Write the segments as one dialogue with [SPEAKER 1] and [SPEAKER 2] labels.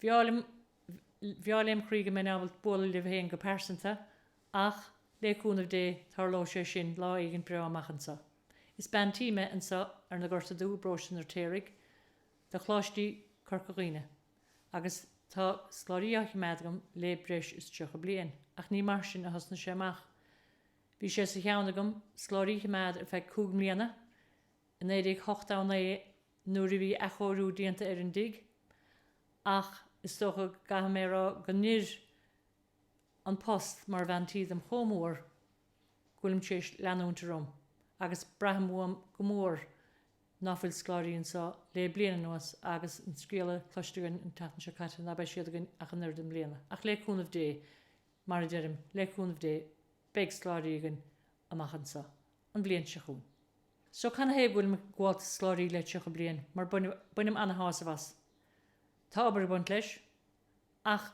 [SPEAKER 1] Bhreá lem chroí go mbeinn ábalta bualadh libh féin go pearsanta, ach, le cúnamh Dé, tarlóidh sé sin lá éigint breá amach anso. Is bean tí me anso ar na Gorta Dubha, i bParóiste an Fheirtéaraigh, do Choláistí Corca Dhuibhne, agus tá scoláirí á chimeád agam le breis is tríocha bliain, ach ní mar sin a thosnaigh sé amach. Bhí sé sa cheann agam scoláirí a chimeád ar feadh cúig mbliana, i 1989 nuair a bhí athchóiriú déanta ar an dtigh, ach is dócha go gcaithfidh mé a rá go n-oir an post mar bhean tí dom chomh mór go bhfuilim tar éis leanúint orm, agus braithim uaim go mór ná fuil scoláirí anseo le bliain anuas agus an scéala cloiste againn an tseachtain seo caite ná beidh siad againn ach an oiread i mbliana. Ach le cúnamh Dé, mar a deirim, le cúnamh Dé, beidh scoláirí againn. amach anseo an bhliain seo chugainn. So canathaobh go bhfuilim ag gabháilt do scoláirí le tríocha bliain mar bainim ana-shásamh as. Tá obair ag baint leis. Ach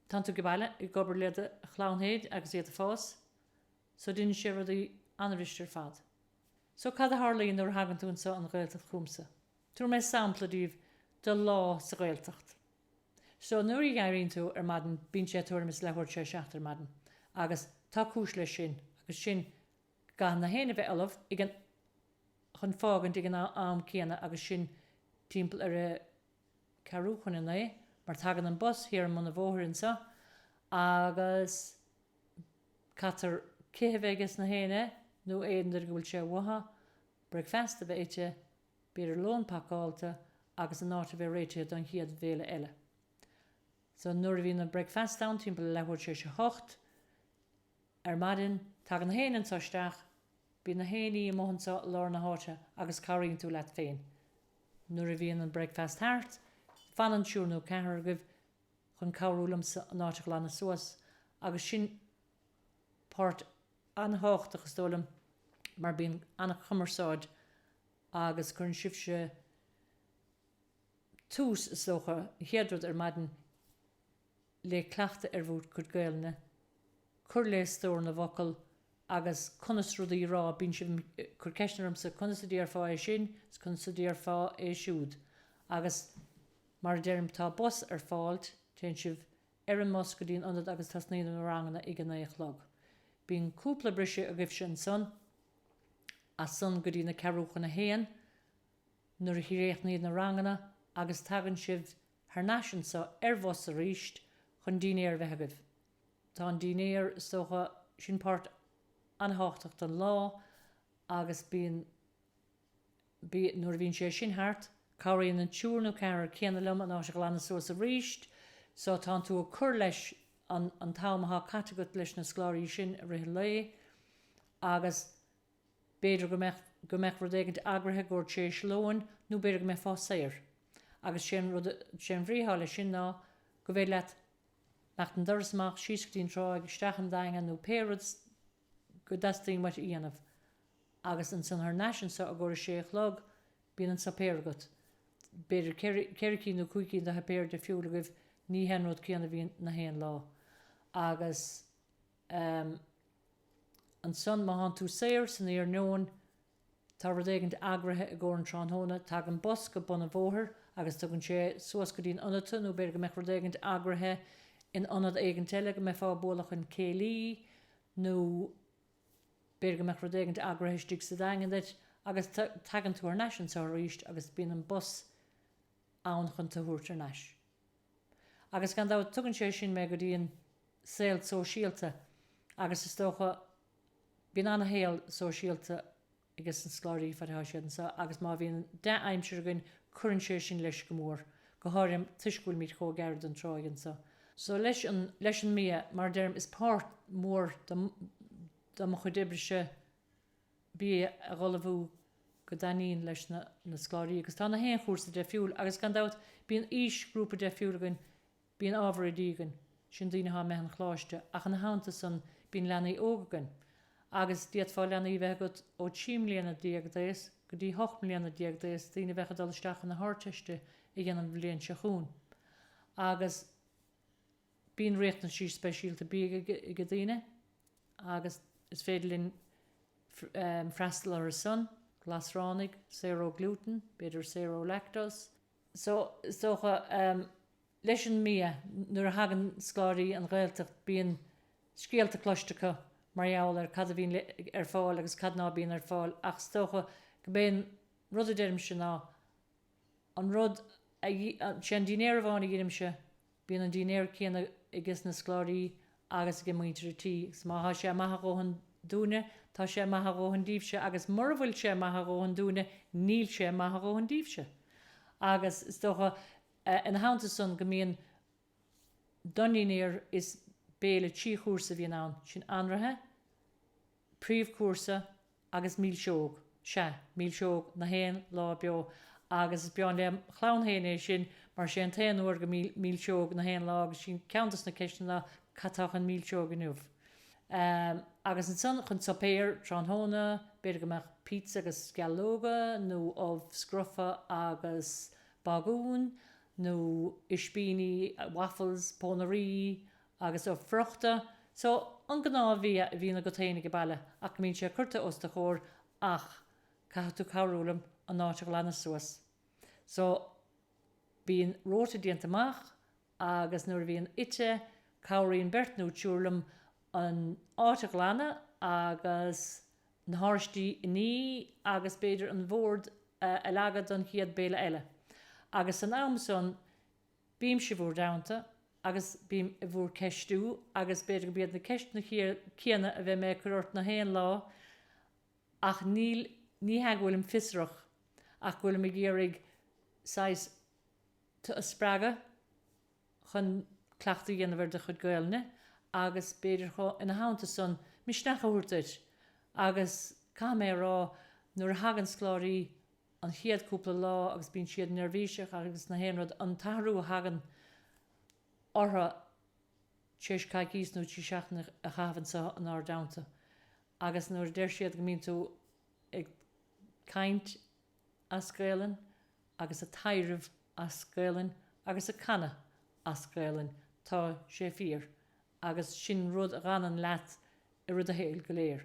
[SPEAKER 1] tánn tú ag baile, ag obair le do chlann féin agus iad ag fás. So deineann sé rudaí an-fhuiriste ar fad. So cad a tharlaíonn nuair a thagann tú anseo an Ghaeltacht chugamsa? Tabharfaidh mé sampla daoibh de lá sa Ghaeltacht. So, nuair a dh'éiríonn tú ar maidin bíonn sé tuairim is leathuair tar éis a seacht ar maidin agus tá cúis leis sin agus sin go gcaithfidh nach éinne a bheith ullamh ag an, chun fágaint ag an am céanna agus sin timpeall ar a ceathrú chun a naoi mar tagann an bus thiar i mbun an bhóthair anseo agus caitear cith a bheith aiges nach éinne nó aon duine go bhfuil sé uathu, bricfeasta a bheith ite. B'fhéidir lón pacáilte agus an áit a bheith réitithe don chéad bhéile eile. So, nuair a bhíonn an bricfeasta ann, timpeall a leathuair tar éis a hocht ar maidin, tagann nach éinne anseo isteach. Bíonn nach aon ní amuigh anseo i lár na háite agus cabhraíonn tú leat féin. Nuair a bhíonn an bricfeasta thart, fanann triúr nó ceathrar agaibh chun cabhrú liomsa an áit a ghlanadh suas agus sin páirt an-thábhachtach, is dóigh liom, mar bíonn an-chumarsáid agus cuireann sibhse tús, is dócha, an chéad rud ar maidin le cleachtadh ar bhur gcuid Gaelainne, cur le stór na bhfocal agus conas rudaí a rá, bíonn sibh ag cur ceisteanna ormsa, conas a déarfá é sin is conas a déarfá é siúd agus mar a deirim tá bus ar fáilt, téann sibh ar an mbus go dtí an ionad agus tosnaíonn na ranganna ag a naoi a chlog. Bíonn cúpla briseadh agaibhse ansan, as san go dtí na ceathrú chun a haon nuair a chríochnaíd na ranganna agus tagann sibh thar n-ais anso ar bhus arís chun dínnéar a bheith agaibh. Tá an dínnéar, is dócha, sin páirt an-thábhachtach den lá agus bíonn. B, Nuair a bhíonn sé sin thart, cabhraíonn an triúr nó ceathrar céanna liom an áit a ghlanadh suas arís, so tánn tú ag cur leis an an t-am athá caite agat leis na scoláirí sin i rith an lae agus b'fhéidir go mbeadh, go mbeadh rud éigint eagraithe dhuit tar éis lóin nó b'fhéidir go mbeifeá saor agus sé an rud, sé an bhrí athá leis sin ná go bhféidir leat imeacht an doras amach, síos go dtí an tráigh, isteach an Daingean nó pé rud é. go dteastaíonn uait a dhéanamh. Agus ansan thar n-ais anso i gcomhair a sé a chlog, bíonn an suipéar agat. B'fhéidir ceithre, ceithre cinn nó cúig cinn de shuipéir deifriúla agaibh, ní hé an rud céanna a bhíonn na haon lá. Agus ehm, ansan má thánn tú saor san iarnóin, Tá rud éigin eagraithe i gcomhair an tráthnóna, tagann bus go bun an bhóthair agus tugann sé suas go dtí an ionad tu, nó b'fhéidir go mbeadh rud éigin eagraithe in ionad éigint eile, go mbeifeá ag bualadh chun céilí, nó b'fhéidir go mbeadh rud éigint eagraithe istigh sa Daingean duit, agus tagann tú thar n-ais anseo aríst agus bíonn an bus ann chun tu thabhairt thar n-ais. Agus gan dabht tugann sé sin mé go dtí an saol sóisialta agus is dócha Bíonn an-shaol sóisialta aige sna scoláirí, fad atá siad anseo, agus má bhíonn dea-aimsir againn, cuireann sé sin leis go mór, go háirithe toisc go bhfuilimíd chomh gairid don tráigh anseo. So, leis an, leis an mbia, mar a deirim, is páirt mhór de, de mo chuid oibrese bia a dh'ullmhú go dtaitníonn leis na, na scoláirí, agus tá na haon chúrsa deifriúil, agus gan dabht, bíonn aoisghrúpa deifriúil againn, Bíonn ábhar oidí againn, sin daoine atá imithe an choláiste, ach ina theannta san bíonn leanaí óga againn, agus d'fhéadfá leanaí a bheith agat ó trí mbliana déag d'aos go dtí hocht mbliana déag d'aos, daoine a bheadh ag dul isteach chun na hArdteiste a dhéanamh an bhliain seo chugainn. Agus bíonn riachtanaisí speisialta bídh age daoine agus is féidir linn freastal orthu san, glasránaigh, saor ó ghlútan, b'fhéidir saor ó lactose, is dócha, leis an mbia. Nuair a thagann scoláirí an Ghaeltacht bíonn scéalta cloiste acu mar gheall ar cad a bhíonn ar fáil agus cad ná bíonn ar fáil ach is dócha go b'é an rud a deirimse ná an rud a, sé an dinnéar amháin a dheinimse Bíonn an dinnéar céanna aige sna scoláirí agus age muintir an tí, agus má thá sé maith a dhóthain dúinne, tá sé maith a dhóthain díbhse, agus mura bhfuil sé maith a dhóthain dúinne, níl sé maith a dhóthain díbhse. Agus is dócha, ina theannta san, go mbíonn don ndinnéar is béile trí chúrsa a bhíonn ann, sin anraithe, príomhchúrsa agus milseog, sea, milseog na haon lá beo, agus is breá lem chlann fhéin é sin mar sé an t-aon uair go mbíonn milseog na haon lá agus sin ceann dos na ceisteanna ná cad atá chun milseoige inniu? Ehm, agus ansan chun suipéir tráthnóna, b'fhéidir go mbeadh pizza agus sceallóga nó ubh scrofa agus bagún nó ispíní, waffles, pónairí agus ubh friochta, so an gnáth bhia a bhíonn agat féin ag an baile ach go mbíonn sé curta os do chomhair ach caithfidh tú cabhrú liom an áit a ghlanadh suas. So bíonn rota déanta amach agus nuair a bhíonn ite cabhraíonn beirt nó triúr liom an áit a ghlanadh agus na háraistí a ní agus b'fhéidir an bhord a leagadh don chéad béile eile agus san am san Bímse bhur dteannta agus bím i bhur ceistiú agus b'fhéidir gurb iad na ceisteanna céanna a bheidh mé ag cur ort na haon lá ach níl, ní hea go bhfuilim fiosrach ach go bhfuilim ag iarraidh saghas tú a spreagadh chun cleachtadh a dhéanamh ar do chuid Gaolainne agus b'fhéidir chomh, ina theannta san, misneach a thabhairt duit agus caithfidh mé a rá nuair a thagann scoláirí an chéad cúpla lá agus bíonn siad neirbhíseach agus na haon rud, an t-athrú a thagann orthu tar éis coicís nó trí seachtaine a chaitheamh anseo in ár dteannta agus nuair a deir siad go mbíonn tú ag caint as Gaelainn agus a' taidhreamh as Gaelainn agus a' canadh as Gaelainn tá sé fíor agus sin rud a dh'fhanann leat i rith do shaoil go léir.